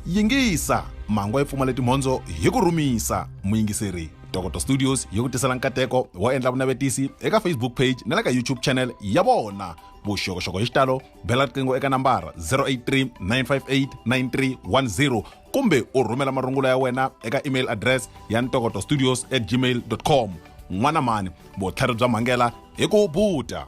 yingisa mhangu yi pfumale timhondzo hi ku rhumisa muyingiseri dr studios yi ku tisela nkateko wo endla vunavetisi eka facebook page na le ka youtube channel ya vona vuxokoxoko hi xitalo bela riqingho eka nambara 083 958 9310 kumbe u rhumela marungula ya wena eka email address ya ntokoto studios at gmail com n'wana mani vutlhari bya mhangela hi ku buta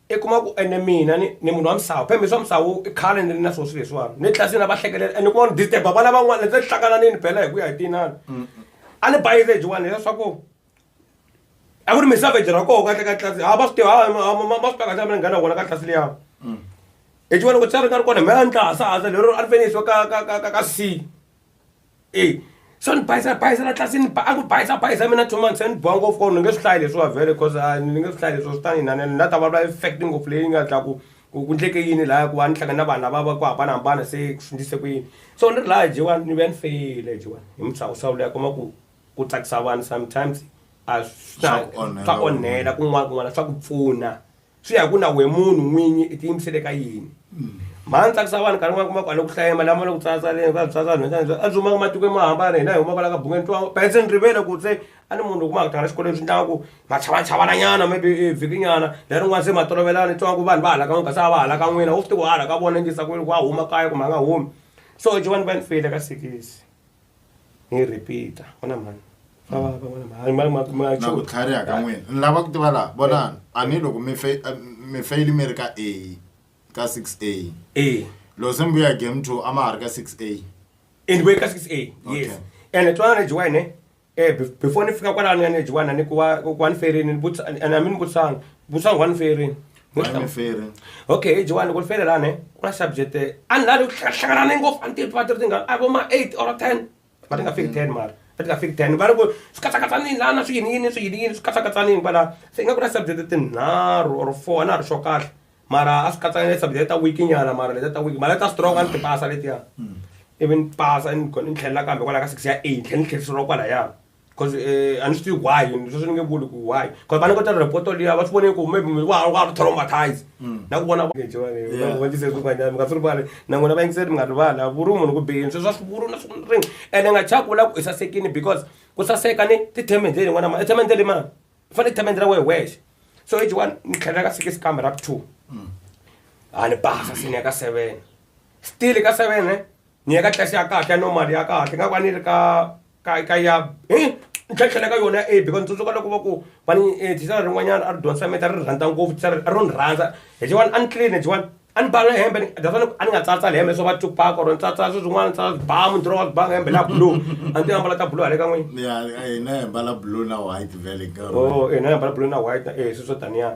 i kuma ku ene mina ni ni munhu wa misawu phembe swa misawu i khale ni ri na swo swi leswiwani ni tlasi na va hlekelela ene kuma ni disturba vana van'wana ndzi hlangana ni ni bela hi ku ya hi tinani a ni bayize jiwani leswaku a ku ri misavage ra koho kahle ka tlasi ha va swi tiva ma swi takahle mina nghana vona ka tlasi liya hi jiwa loko tsari nga ri kona hi mhe a ni tla hasa hasa lero a ni fenisiwa ka ka ka ka ka si e swa ni bayisa bayisela tlasi ni ba a ku bayisa bayisa mina two months ni boha ngopfu ko ni nge swi hlayi leswiwa vhele cause a ni nge swi hlayi leswiwa swi ta ni inana ni na ta vulavula effect ngopfu leyi nga ta ku ku ku ndleke yini laya ku va ni hlangana na vanhu lava va ku hambanahambana se ku swi ndlise ku yini so ni ri laya jewan ni vuya ni feyile jewan hi muhlawuhlawu leyi a kuma ku ku tsakisa vanhu sometimes a swi swa onhela kun'wana kun'wana swa ku pfuna swi ya ku na we munhu n'winyi i tiyimisele ka yini mhani tsakisa vanhu nkarhi n'wana kuma kwale ku hlaya mali lama le ku tsatsaleni va tsatsa nhweta ni a dzumaka matiko mo hambana hina hi humaka la ka bungeni twa petse ni rivele ku se a ni munhu kuma kutanga xikolweni swi ndlaka ku machavachavana nyana maybe e vhiki nyana lerin'wana se ma tolovelana ni twa ku vanhu va hala ka n'wina kasi a va hala ka n'wina u swi ti ku hala ka vona ngisa ku wa huma kaya kumbe a nga humi so jovani va ni feyile ka sikisi ni repeat ona mhani naku tlhariha ka n'wina ni lava ku tiva laha vonani a ni loko mi fe- eh, mi feyili mi ri ka a ka six a e loko se mi vuya hi game two a ma ha ri ka six a and vuye ka six a yes Okay. and twanana ni jiwayine um before ni fika kwalano ya ni jiwana ni ku wa wa ni ferini ni vutisa- and a mi ni vutisanga vutisanga wa ni ferini Ngifere. okay jewani ku fere lani ku na subject a ni lavi hlanganane ngopfu a ni tivi tivatiri ti nga a vo ma eight or ten va ti nga fiki ten mara va ti nga fiki ten va ri ku swi katsakatsanini lana swi yini yini swi yini yini swi katsakatsanini kwala se ingaku na subject tinharhu or four a na ha ri sure kahle mara a swi katsakane subject ta week nyana mara leta ta week mara ta strong a ni ti pasa letiya ivi ni pasa ni ni tlhelela kambe kwala ka six ya eight ni tlhela ni tlheriseriwa kwalaya cause eh, a ni swi tivi why sweswi ni nge vuli ku why cause vana ko ta repoto liya va swi vone ku maybe wa wa ri traumatize mm. na ku vona va vonise swin'wanyana mi nga swi rivali na n'wina va yingiseli mi nga rivali a vuri munhu ku bihini sweswi a swi vuri na swi ringi ene nga chaka vula ku i sasekini because ku saseka ni tithemende leyi n'wana ma ithemende leyi mani i fanele ithemende ra wehe wexe so eji one ni tlhelela ka six kambe ra two mm. a ni basa sini ya ka seven still ka seven eh? ni ya ka tlasi ya kahle ya normal ya kahle nga va ni ri ka ka ka ya hi ni tlhatlhela ka yona ya a because ni tsundzuka loko va ku va ni eh, thisara rin'wanyana a ri dyondzisa meta ri rhandza ngopfu thisara a ro ni rhandza hi jiwani a ni clean hi jiwani a ni bala hembe ni- that's why ni- a ni nga tsatsali hembe swo va tupak or ni tsatsa swi swin'wana ni tsatsa bamu ndzi rova banga hembe la blue a ndzi ambala ta blue hale ka n'wini ya hina hi mbala blue na white vele nkarhi oh eh na ambala blue na white eh swi swo taniya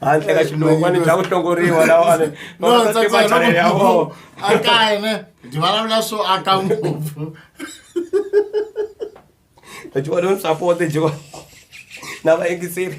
handle ka xinokwane bya ku hlongoriwa lawani vatimachanele ya vona a kaye ne ndi vulavula swo aka ngopfu leti vona ni sapote jiwa na vayingiseri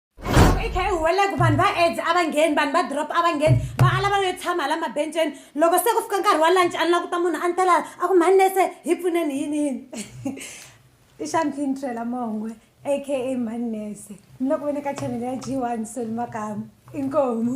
i kha yi huwelela ku vanhu va aids a va ngheni vanhu va drop a va ngheni va ala va yo tshama la mabenceni loko se ku fika nkarhi wa lunch a ni la ku ta munhu a ni tela a ku mhani nese hi pfuneni yini yini i xampini trela mongwe aka mhani nese ni loko ve ni ka chanele ya g one soli makamu inkomu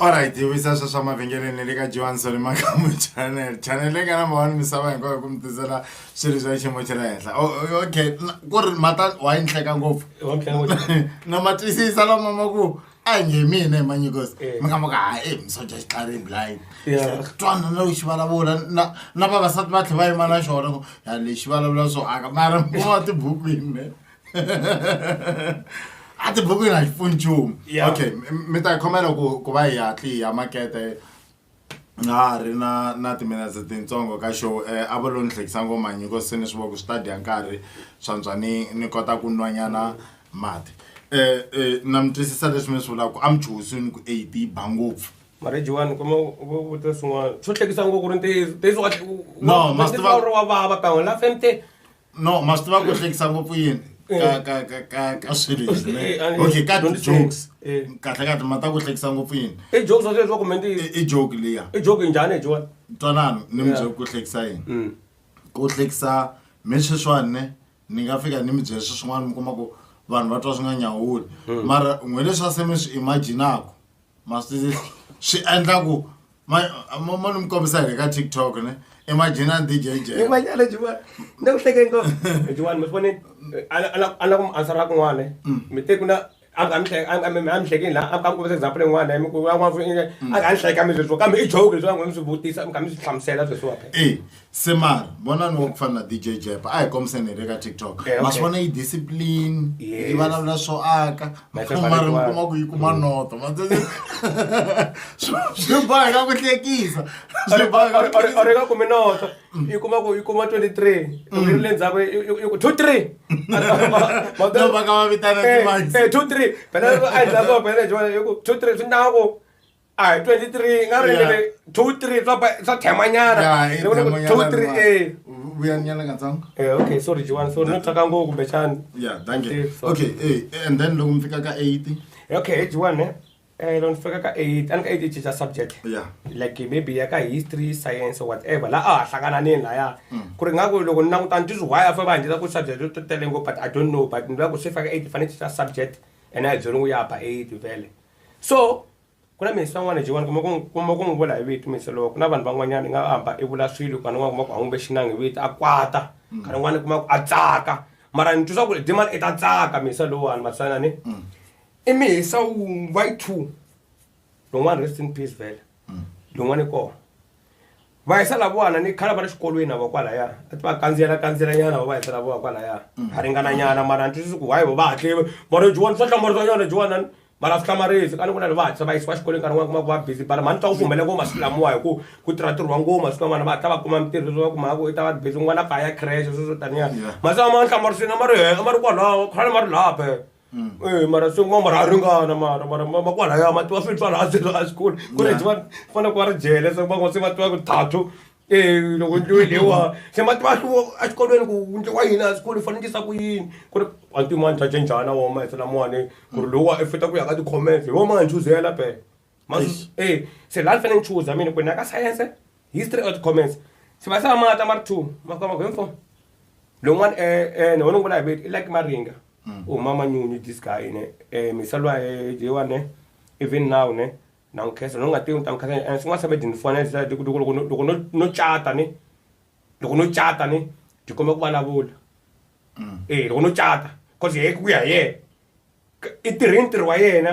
Alright, hi vuyisa swa swa mavhengeleni le ka Johan Solimakamu channel. Channel leyi nga number one misava hinkwayo ku mi tisela swilo swa xiyimo xa le henhla. Oh, oh, okay, na- ku ri mata wa yi nhleka ngopfu. na ma twisisa lama ma ku a hi nge mina hi manyikosi Eh. mi nga muka ha e misoja xi tlari blind Yeah. twana na u xi vulavula na na vavasati va tlhe va yima na xona ku ya lexi vulavula swo aka mara mo wa tibukwini ne a ti buku na xipfuni nchumu Yeah. okay m- mi ta yi khomela ku ku va hi hatli ya makete na ha ri na na timinetse tintsongo ka show um a va lo ni hlekisa ngoma nyiko se ni swi va ku swi ta dya nkarhi swantswa ni ni kota ku nwanyana mati um na mi twisisa leswi mi swi vulaka ku a mi chuhisi ni ku eight yi ba ngopfu marriage one kuma vutisa swin'wana swo hlekisa ngopfu ku ri ntiyiso ntiyiso wa- u- No, u- ma swi tiva- ntiyiso wa vava kan'we la femte no ma swi tiva ku hlekisa ngopfu yini Eh. ka ka ka ka ka swilo leswi ne Eh, and- okay ka don't say- jokes eh. kahle kahle ma ta ku hlekisa ngopfu yini i jokes wa sweswi wa kumbe ntiyiso I- i joke liya i joke njhani ejiwani twanano ni mi Yeah. byele ku hlekisa yini Mm. ku hlekisa mi sweswiwani ne ni nga fika ni mi byele swi swin'wana mi kuma ku vanhu va twa swi nga nyawuli mara n'we leswi a se mi swi imaginaku ma swi swi endla ku ma ma ma ni mi kombisa hi le ka tiktok ne i majina ni dj je Hey, manyala Juwani. Ni ku hleke ngopfu. Hey, Juwani, mi swi vonile? Eh, a la- a la- a la ku mi answera kun'wana, eh. Mi te ku na- a mi- a mi hleke- a mi- a mi- a mi hlekini laha, a mi- a mi kombisa example yin'wana, eh, mi ku van'wana vo- eh, a nga ni hleka mi sweswiwa, kambe i joke leswi va n'wi mi swi vutisa, mi kha mi swi hlamusela sweswiwa phela. e semar vonani wa ku fana na dj jep a hi kombiseni hi le ka tiktok Eh, okay. ma swi vona yi discipline Yes. yi vulavula swo aka My mara favorite mi one. kuma ku yi kuma noto Ma- Swi- swi boheka ku hlekisa Swi boheka ku hlekisa. oreka kumi noto yi kuma ku yi kuma 23 loko yi ri le ndzhaku yi- yi- yi ku 2 3 No, va ka va vitana timax. 2 3 phela a yi ndzhaku phela yi ku 2 3 swi ndhaku a hi 23 nga ri Yeah. 2 3 swa ba- swa themanyana Ya, i Ni vona ku demo 2 nyana 3 ma- eh vuyanyana katsongo Eh, okay sorry jiwani sorry no tsaka ngopfu kumbexani ya thank you Yes, sorry. okay eh, and then loko mi fika ka 80 okay jiwani eh loko ni fika ka 8 a ni ka 8 cinca subject ya like maybe ya ka history science or whatever la a ha hlangananini laya ku ri nga ku loko ni langutana ti swi why a fa va nghenisa ku subject to tele ngopfu but i don't know but ni vula ku swi faka 8 fanele cinca subject and a hi byeriwi ya ba 8 vele so ku na minsi van'wana jiwani kuma ku n'wi vula hi vito minsi loko na vanhu van'wanyana i nga hamba i vula swilo kana n'wana kuma ku hangumbe xinangi hi vito a kwata mm. kana n'wana kuma ku a tsaka mara ni twisa ku ri dimani i ta tsaka minsi lowani matsana ni mm. i mihisa wun'wa yi two lowun'wana rest in peace vele mm. lowun'wana i kona va yisa lavana ni khala va ri xikolweni ava kwalaya a ti va kandziyela kandziyela nyana va yisa lavona kwalaya mm. ha ringana nyana mara ni twisisi ku why va va hatle mara jiwani swa hlamarisa nyana jiwani mara swi hlamarisi ka ni ku na va hatlisa va yisiwa xikolweni nkarhi wun'wana kuma ku va busy bara mhani twa ku fumela ngoma swi lamiwa hi ku ku tirha ntirho wa ngoma swi van'wana va hatla va kuma mintirho leswi va kuma ku i ta va ri busy n'wana kaya crash sweswo taniya masiku lama ni hlamarisini a ma ri he a ma ri kwalaho khale ma ri laphe Mm. Eh, mara swi kuma mara a ringana mara mara makwalaya ma tiwa swilo swa laha se laha xikolo ku ri va fana ku va ri jele se van'wa se va tiwa ku thathu um loko ndliwe lewa se ma tiwa hluvo exikolweni ku ndliwa yini a xikolo fanekisa ku yini ku ri anti yin'wani ta cinjhana woma hi se lamawani ku ri lowa i fita ku ya ka ti-comments hi wo ma hi chuzela phela Mazuzu- eh se la ni fanele ni chuza mina ku ni ya ka science history or comments se va se va mata ma ri two ma fika ma ku info lowun'wana eh ni wona ngula hi viti i like maringa u mama nyunyu this guy ne eh misalwa eh jewa ne even now ne na n'wi khensa loko nga tivi ni ta n'wi khensa eh swin'wana swa bedini fona ni loko loko loko loko no no cata ni loko no cata ni ti komba ku vulavula eh loko no cata cause he ku ya hi yena i tirhe ntirho wa yena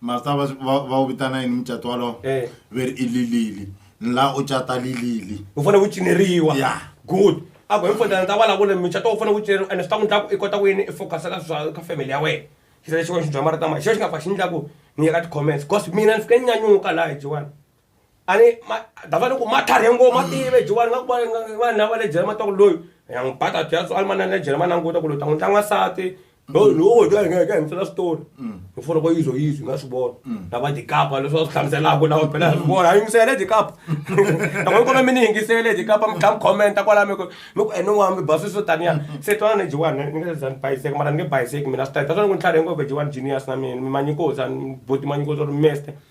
masta va va va wu vitana yini mucato walowo Eh. ve ri i lilili ni laha u cata lilili u fanele ku cineriwa Ya. good a ku hinkwenta ni ta vulavula micato wu fanele ku cineriwa ene swi ta ku endla ku i kota ku yini i focus ka swa ka family ya wena xisele xin'wana xi bya marito ma xexo xi nga fa xi ni endla ku ni ya ka ti-comments because mina ni fike ni nyanyuka laha hi jiwani ani davani ku matlhari ngo ma tive jiwani nga ku vanhu lava le jele matwaku loyi ya n'wi bata byatso a limanani le jele ma languta ku loyi ta n'wi tlanga nsati loyi lowo dya hi nga hi ka hi misela switori hi fona ko yizo yizo nga swi vona lava dikapa leswi va swi hlamuselaka lawa phela swi vona a yingisele dikapa loko yi kona mi ni yingisele dikapa mi tlha mi khomenta kwala mi ku mi ku ene n'wana mi baswi swo taniya se twana ni jiwani ni nge zani bayiseki mara ni nge bayiseki mina swi ta hi ta swona ku ni tlhari ngopfu jiwani genius na mina mi manyikosa buti manyikosa ri mester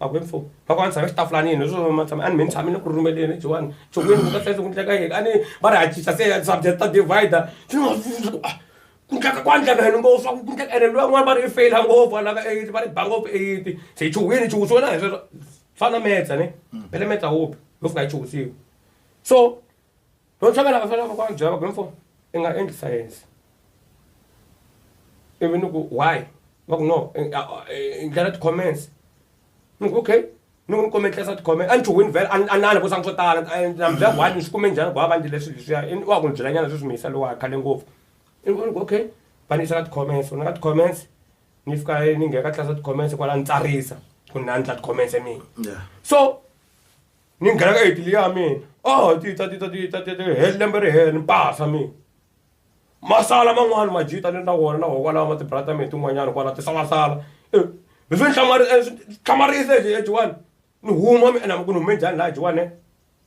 Makwemfo va ku a ni tshame xitafulanini leswo ma tshame a ni me ni tshame ni ku rhumeleni Johani ntshoveni ku ta hlayisa ku ndlela ka yini a ni va ri hatlisa se subject ta divider swi ni mavundza ku a ku ndleka ku a ndleka yini ngopfu swa ku ku ndleka ene luya n'wana va ri i feyila ngopfu a lava eight va ri ba ngopfu eight se hi chuhile chuhi swi wena hi sweswo swi fana na metsa ni phele metsa hope yo fika yi chuhisiwa so Loko swa vana va fanele va va byela va ku info i nga endli science ivi ni ku why va ku no i ndlela ti-comments ni ku okay ni ku ni kome tlesa tikhome a ni ti wini vhele a a na ni vutisa swo tala na mi byela ku hayi ni swi kume njhani ku va va ndzi leswi leswiya i wa ku ni byelanyana sweswi mi yisa lowa khale ngopfu i ku ni ku okay va ni yisa ka ti-comments ni ka ti-comments ni fika ni nghena ka tlasa ti-comments kwala ni tsarisa ku ni a ni tla ti-comments mina so ni nghena ka italy ya mina o ti ta ti ta ti ta ti ta he lembe ri hela ni pasa mina masala man'wani majita ni na wona na wona kwalawa ma tibrata mina tin'wanyana kwala tisalasala eh, leswi ni eh, hlamarise ejiwani ni huma mi enama ku ni hume njhani laha jiwane eh?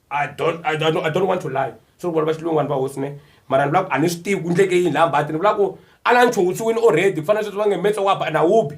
i don't i don't i don't want to lie swi ri vona va xilungwani va hosi ne mara ni vula ku a ni swi tivi ku ndleke yini laha mbati ni vula ku a la nchuwutsiwini already ku fanele sweswi va nge metso wa ba na wubi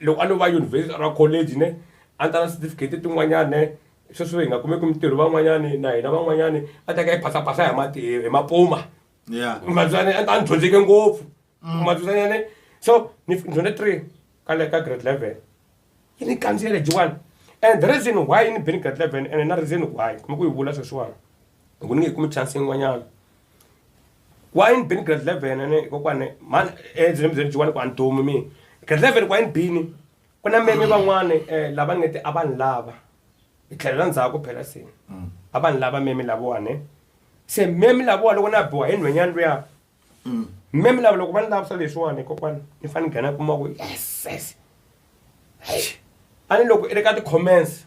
loko a no va yunivhesiti or a college ne a ni ta na certificate tin'wanyani ne sweswi hi nga kumeki mintirho van'wanyani na hina van'wanyani a ta ka yi phasapasa hi mati hi mapuma Yeah. mabyane a ni dyondzeke ngopfu mabyanyane so ni dyondze three ka le ka grade eleven yi ni kandziyele jiwani and the reason why yi ni beni grade eleven and na reason why kuma ku yi vula sweswiwani loko ni nge kumi chance yin'wanyana wa yini bini grade eleven ene kokwane mhani ebyeni byeni byiwani ku a ni dumi mina grade eleven kwa yini bini ku na meme van'wana um lava ni nge ti a va ni lava hi tlhelela ndzhaku phela se a va ni lava meme lavawani se meme lavawa loko na biwa hi nhwenyana luya meme lava loko va ni lavisa leswiwani kokwana ni fanele ni nghena kuma ku yeses a ni loko i ri ka ti-comments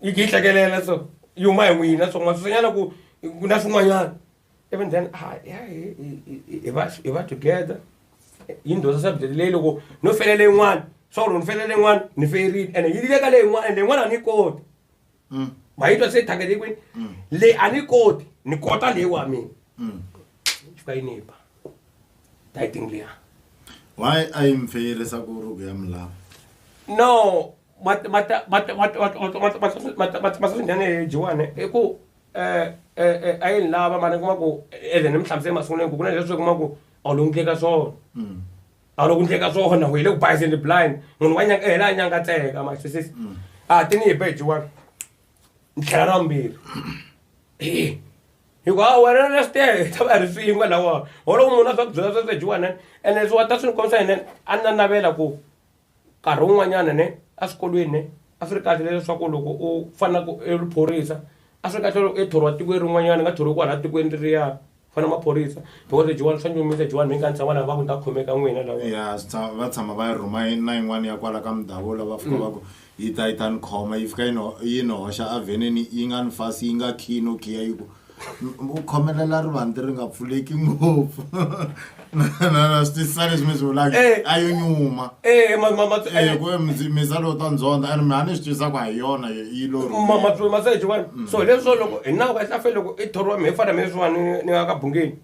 yi khe yi hlekelela so yi huma hi n'wina so n'wasusenyana ku ku na swin'wanyana even then ah, hi va hi va together yi ni dyondza subject leyi loko no felele yin'wana swa ku loko ni felele yin'wana ni ferile ene yi leka leyi yin'wana ende yin'wana a ni yi koti mm. ma yi twa se thakele kwini mm. leyi a ni yi koti ni kota leyi wa mina mm. fika yi ni ba titing liya why a yi mfeyerisa ku ruku ya milava no mataswinene jiwane i ku um eh, eh, eh, a yi ni lava mara kuma ku eze ni mi hlamusele masunguneni ku ku na leswi kuma ku a wu loku ndleka swona mm. a wu loku ndleka swona u yi le ku bayizeni blind munhu wa nyanga hela a nyanga tseka masisisi mm. a ti ni hi be jiwane ni tlhela ra vumbirhi hikuva a wena na switere ta va ri swin'we lawa holo munhu a swa ku byela sweswo jiwane ene swi wa ta swi ni kombisa yena a ni na navela ku nkarhi wun'wanyana ne a swikolweni ne a swi ri kahle leswaku loko u fana ku i ri phorisa a swi ri kahle loko i thoriwa tikweni rin'wanyana i nga thoriwi kwalaya tikweni leriya ku fana maphorisa because lebyin'wana swa nyumisa lebyin'wana mi nga ni tshama laha va ku ni ta khomeka n'wina lawa ya swi tshama- va tshama va yi rhuma yi- na yin'wana ya kwala ka mudavula va fika va ku yi ta yi ta ni khoma yi fika yi ni ho- yi ni hoxa avhenini yi nga ni fasi yi nga khiyi no khiya yi ku u khomelela rivanti ri nga pfuleki ngopfu na switisa leswi mi swi vulaka eh. a yo nyuma eh, eh, ku misa lowu ta ndzondza and mi a ni swi twisaka ha yona yi lorimasejiwani mm. so leswo loko hi nawu ka hlafe loko i thoriwa mi hi fana mi leswiwani ni nga ka bungeni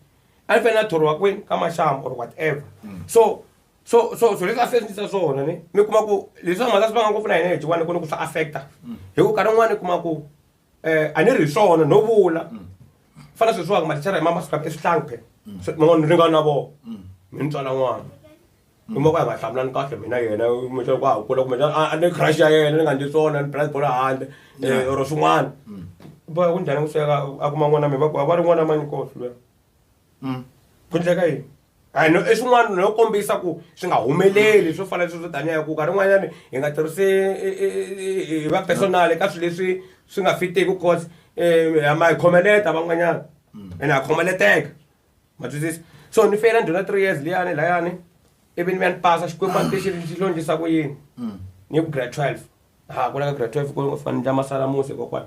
a ni fanele a thoriwa kwini ka maxamu or whatever mm. so so so so leswi a swi endlisa swona ni mi kuma ku leswi va mhaka swi va nga ngopfu na hina hi jiwani ku ni ku swi affecta mm. hi ku nkarhi wun'wana i kuma ku um a ni ri hi swona no vula mm. fana sweswiwaka mathichara hi mamasiku lama eswihlangi phela mm. man'wana ni ringana na vona mm. mi ni tswala n'wana mi moko ya nga hlamulani kahle mina yena kumbexana ku ha kula kumbexana a ni crush ya yena ni nga ndzi swona ni phela bolo handle eh, or swin'wana boya ku njhani ku sweka a kuma n'wana mi va ku va ri n'wana manyikosi luya ku ndleka yini and i swin'wana no kombisa ku swi nga humeleli swo fana leswi swo taniya ku nkarhi un'wanyani hi nga tirhisi hi va personal ka swilo leswi swi nga fitiki cause ha ma hi khomeleta van'wanyana ene ha khomeleteka ma twisisa so ni feyila ndhuna three years liyani layani ivi ni vuya ni pasa xikwembu a ni tixi xi londzisa ku yini ni ku grade twelve ha ku la ka grade twelve ku fanele ndla masalamusi kokwana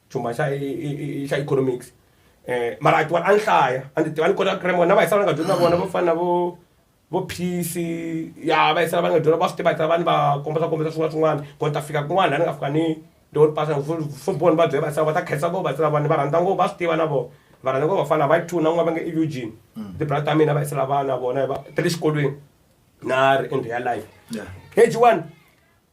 chumba xa xa economics eh mara a tiwani a ni hlaya a ndzi tiva ni kota grammar na vayisana va nga dyondza vona vo fana na vo vo phisi ya vayisana va nga dyondza va swi tiva vayisana vanhu va kombisa kombisa swin'wana swin'wana ku ni ta fika kun'wana la ni nga fika ni ndo ni pasa fo boni va byela vayisana va ta khensa vo vayisana vanhu va rhandza ngopfu va swi tiva na vona va rhandza ngopfu vafana va two na n'wana va nge i eugene tibrata ta mina vayisana vana vona va ti le xikolweni na ri endhe ya life page one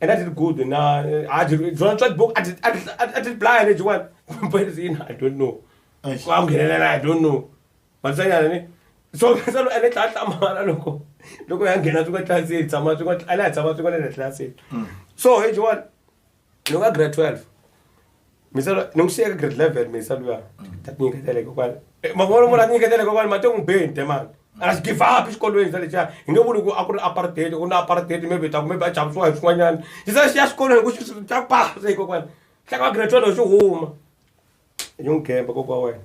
and a ti ri good na a ti byona tswa tibuku a ti a ti a ti blaya lebyiwani poison i don't know Eish. ku a nghenelela i don't know vatsanyana ni so se lo ene tlaa hlamala loko loko ya nghena swi nga tlasini tshama swi nga a la ya tshama swi nga le tlasini so hi jiwani loko a grade 12 misava ni n'wi xiyeka grade level misa luya ta ti nyiketele kokwani mavona mona a ti nyiketele kokwani mati n'wi be nte mani a xi give up xikolweni xa lexiya hi nge vuli ku a ku ri apartheid ku na apartheid maybe ta ku maybe a chavisiwa hi swin'wanyana xi se xi ya xikolweni ku xi ta pasa hi kokwani hleka wa grade twelve xi huma hi n'wi gemba kokwa wena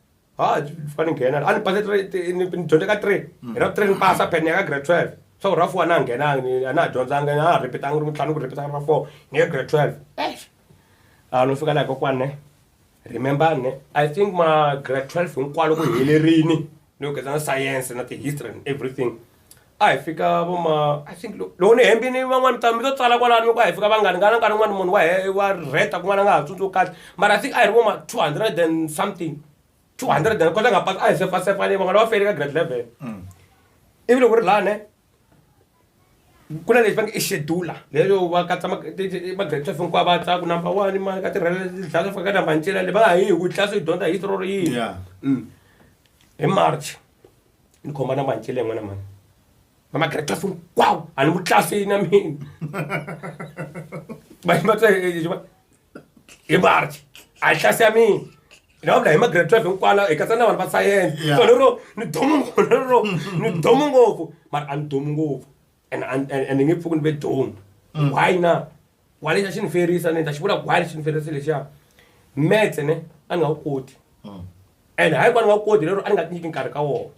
ha fika ni nghena a ni pase three ti- ni ni dyondze ka three hi ra three ni pasa phela ni ya ka grade twelve swa ku ra four a na ha nghenanga ni- a na ha dyondzanga na ha ripitanga ri ntlhanu ku ripita ra four ni ye grade twelve eish a no fika laha kokwana ne remember ne i think ma grade twelve hinkwalo ku helerini ni ku geza na science na ti-history and everything a hi fika vo ma i think loko ni hembini van'wani ta mi to tsala kwalani loko a hi fika vangani ngana nkarhi wun'wani munhu wa wa rheta kun'wana a nga ha tsundzuki kahle mara i think a hi ri vo ma two hundred and something two hundred and kota nga pasa a hi sefasefa leyi van'wana va fele ka grade level mm. ivi loko ri lani ku na lexi va nge i xedula leyo va katsa magrade twelve hinkwavo va tsaku number one mani ka tirhela dlaya swi fika ka number ncela le va nga ha yi hi ku tlilasi yi dyondza hi history ro yini mm. hi march ni khoma na mancele n'wana mhani va magrade class hinkwawo a ni vutlasi na mina va yima tsa hi march a yi hlasi ya mina ni va vula hi magrade twelve hinkwana hi katsa na vanhu va sayense so lero ni domu ngopfu lero ni domu ngopfu mara a ni domu ngopfu and and and nge pfuki ni ve don mm. why na why lexi xi ni ferisa ni ta xi vula why lexi ni ferisa lexiya maths ne a ni nga wu koti mm. and hayi va ni nga wu koti lero a ni nga ti nyiki nkarhi ka wona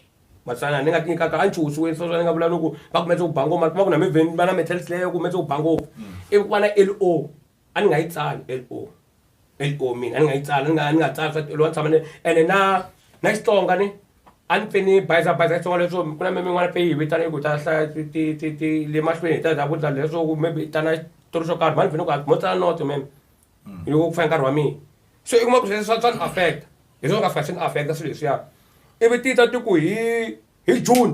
matsana ni nga ti nyikaka a ni chuhusiwe so swa ni nga vula loko va kumetse ku ba ngoma kuma ku na mivheni va na metal slayer kumetse ku ba ngopfu mm. ivi ku va na l o a ni nga yi tsali LO LO mina a ni nga yi tsali ni nga ni nga tsali swa olova ni tshama ni ene na na Xitsonga ni a ni pfe ni bayizabayiza Xitsonga leswo ku na mimin'wana pfe yi hi vitana yi ku hi ta hlaya ti ti ti ti le mahlweni hi ta hi ta vutisa leswo ku maybe i ta na xitori xo karhi mhani ni pfe ni ku mo tsala noto mem yi ku fane nkarhi wa mina so i kuma ku sweswo swa swa ni affect hi swona swi nga fika swi ni affect swilo leswiya ivi ti ta ti ku hi hi June.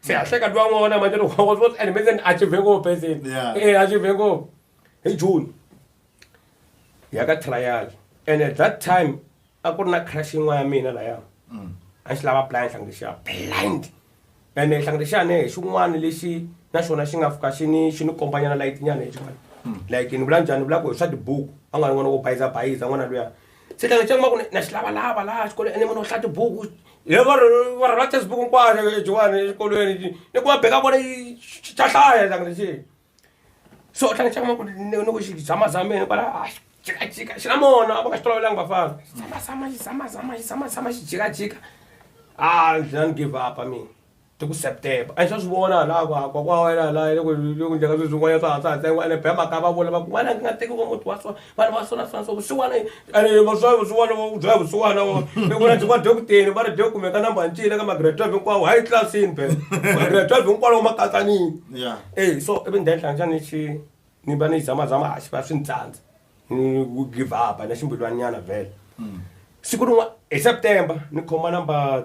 siyahleka tivan'wana manje and menzeni a chivhe ngopfu ezeni e a chivhe ngopfu hi june ya ka trial and at that time a ku ri na crash yin'wana ya mina laya mm. a xi lava plan hlangi xa blind and hlangi xa ne hi xin'wana lexi na xona xi nga fika xi ni xi ni kombanyana layitinyana hi xin'wana mm. like ni vula njhani ni vula ku hi swa tibuku a nga ri n'wana wo bayiza bayiza n'wana luya se tlanga xa maku na xi lavalava laha xikolweni ene munhu wo hlaya tibuku hi va ri va ri rhandza tibuku hinkwato lexiwani exikolweni lexi ni ku va beka kona yi xa hlaya tlanga lexiya so u tlanga xa maku ni ni ku xi zamazameni kwala a xi jikajika xi na mona a va nga xi tolovelanga vafana xi zamazama xi zamazama xi zamazama xi jikajika a ni za ni give up-a mina. ti ku september a hi swa swi vona hala ku hakwa kwa wena hala loko loko njhaka sweswi n'wana swa ha swa ha tsengiwa ene bema ka va vula va ku n'wana nga teki va muti wa so vanhu va sona sona so vusiwana ene va swa vusiwana va byela vusiwana wa ni vona ndzi va dyo ku teni va ri dyo kumeka number ncile ka magrade 12 hinkwawo hi classini be magrade 12 hinkwawo ma katsanini ya eh so ivi ndzi endla njhani xi ni va ni zama zama a xi va swi ni tsandza ni ku give up na ximbilwanyana vhele siku rin'wana hi september ni khoma number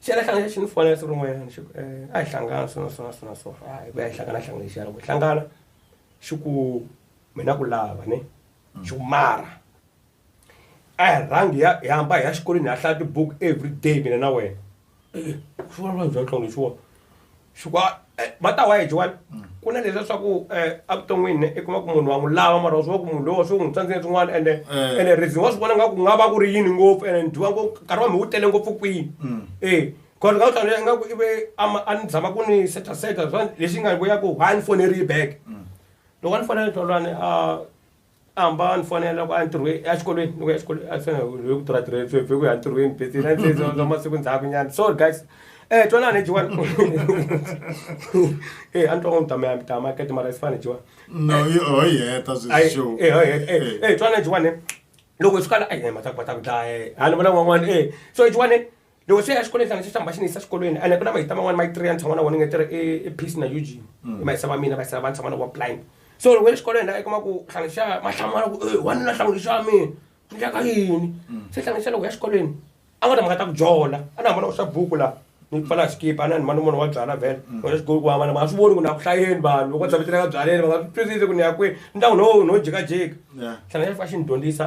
xi la hlangana xi ni fonela siku rin'wanyana xi ku um a hi hlangana so na so na so na so a hi ku ya hi hlangana hlangana xana ku hlangana xi ku mina ku lava ne mm. xi ku mara a hi rhangi ya hi hamba hi ya xikolweni hi ya hlaya tibuku every day mina na wena swivanavana bya tlongo leswiwona swa va ta wa hi jowani ku na leswiya swa ku um evuton'wini i kuma ku munhu wa n'wi lava mara wa swi va ku munhu lowo swi n'wi tsandzeni swin'wana ende ende reason wa swi vona nga ku nga va ku ri yini ngopfu ende ni dyiwa ngo nkarhi wa mi wu tele ngopfu kwini e cause nga hlawula nga ku ive a ni zama ku ni seta seta swa lexi nga vuya ku ha ni foneriyi back loko a ni fonela hlawulani a hamba ni fonela ku a ntirhweni a xikolweni ni ku ya xikolweni a swi hi ku tirha tirheni sweswi hi ku ya ntirhweni bese na se za masiku ndzhaku nyana sorry guys eh twanana hi jiwani eh a ni twa ku mitama ya mitama ka timara yi fana jiwani no yi ho yi heta sweswi show eh ho yi heta eh eh twanana jiwani loko swi kala a yi hema ta ku va ta ku dlaya eh ha ni vona n'wan'wana eh so jiwani loko se ya xikolweni hlangana xi hlamba xi ni yisa xikolweni ene ku na mahita man'wani ma three ya ni tshama na vona nge tirhi i peace na eugene i mahisa va mina mahisa va ni tshama na vona blind so loko ya xikolweni la i kuma ku hlangana xa ma hlamala ku e wanuna hlangana xa mina ni ndlaka yini se hlangana xa loko ya xikolweni a nga ta mhaka ta ku jola a ni hambana ku swa buku la ni pfala xikipa a ni hambana munhu wa byala vhele wena xikolo ku hambana ma swi voni ku na ku hlayeni vanhu loko va tshameteleka byaleni va nga swi twisisi ku ni ya kwini ni ta ku no no jikajika hlangana xa fika xi ni dyondzisa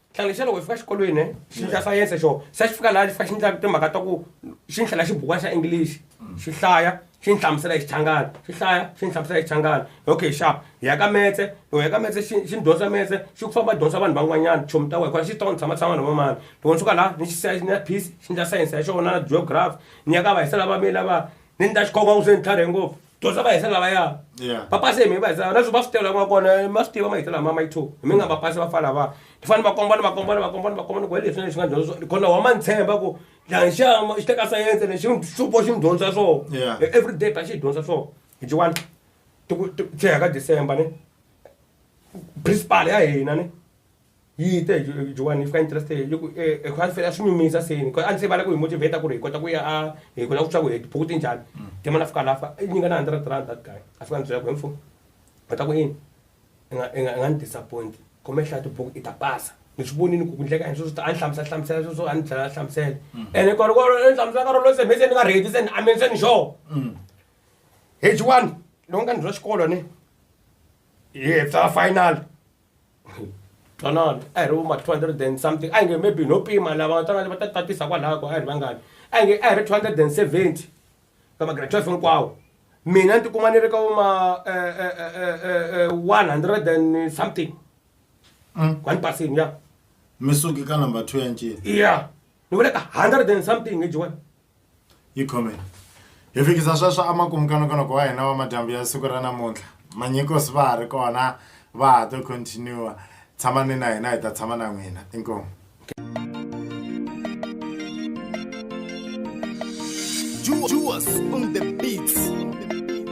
nhlanga xa loko hi fika xikolweni ne xi ndla sayense xo se xi fika laha xi fika xi ndla timhaka ta ku xi ni hlela xibukwana xa english xi hlaya xi ni hlamusela hi xichangana xi hlaya xi ni hlamusela hi xichangana okay sharp hi ya ka metse loko hi ya ka metse xi xi ni dyondza metse xi ku famba dyondza vanhu van'wanyana chomi ta wena hikuva xi tona ni tshama tshama na vo mani loko ni suka laha ni xi siya ni ya peace xi ndla sayense ya xona na geography ni ya ka va hisela va mina va ni ni ta xikhoma ku se ni tlharihe ngopfu. dyondza va hisa lavaya Yeah. va pase hi mi va hisa na swi va swi tela n'wana kona ma swi tiva ma hisa lama ma yi two hi mi nga va pasi va fana va ni fanele va kombana va kombana va kombana va kombana ku hi leswi na leswi nga dyondza swona kona wa ma ni tshemba ku dlanxama xi teka sayense lexi xupo xi ni dyondza swona Yeah. E- every day ta xi hi dyondza swona hi jiwani ti ku ti- ti ya ka december ni principal ya hina ni yi te joani yi fika interest yi ku eh, eh, a fela swi nyumisa seni a ni se vala ku hi motivate ku ri hi kota ku ya a hi kona ku twa ku hi tibuku ti njhani mm. ke mana fika lafa i nyinga na hundred rand that guy a fika ni byela ku hemfo va ta ku yini i nga ni disappoint kome hlaya tibuku i ta pasa ni swi vonini ku kundleka yini sweswo a ni hlamusela hlamusela sweswo a ni tlhela a hlamusela mm. ene kona ku ni hlamusela ka rolo se mhe se ni nga redi se ni ameni se ni xo mm. hejiwani loko nga ni bya xikolo ni hi hepsa final twanana a hi ri vuma 200 and something a hi nge maybe no pima lava twanana va ta tatisa kwalaho ko a hi ri vangani a hi nge a hi ri 270 ka magrade 12 hinkwawo mina ni tikuma ni ri ka vuma 100 and something Mm. kwani pasini ya mi suki ka number two ya ncini ya ni vule ka 100 and something hi jiwani yi khomeni hi fikisa sweswo emakumu ka nongonoko wa hina wa madyambu ya siku ra namuntlha manyikosi va ha ri kona va ha to continue tshamani na hina hi ta tshama na n'wina inkomu Juice on the beats.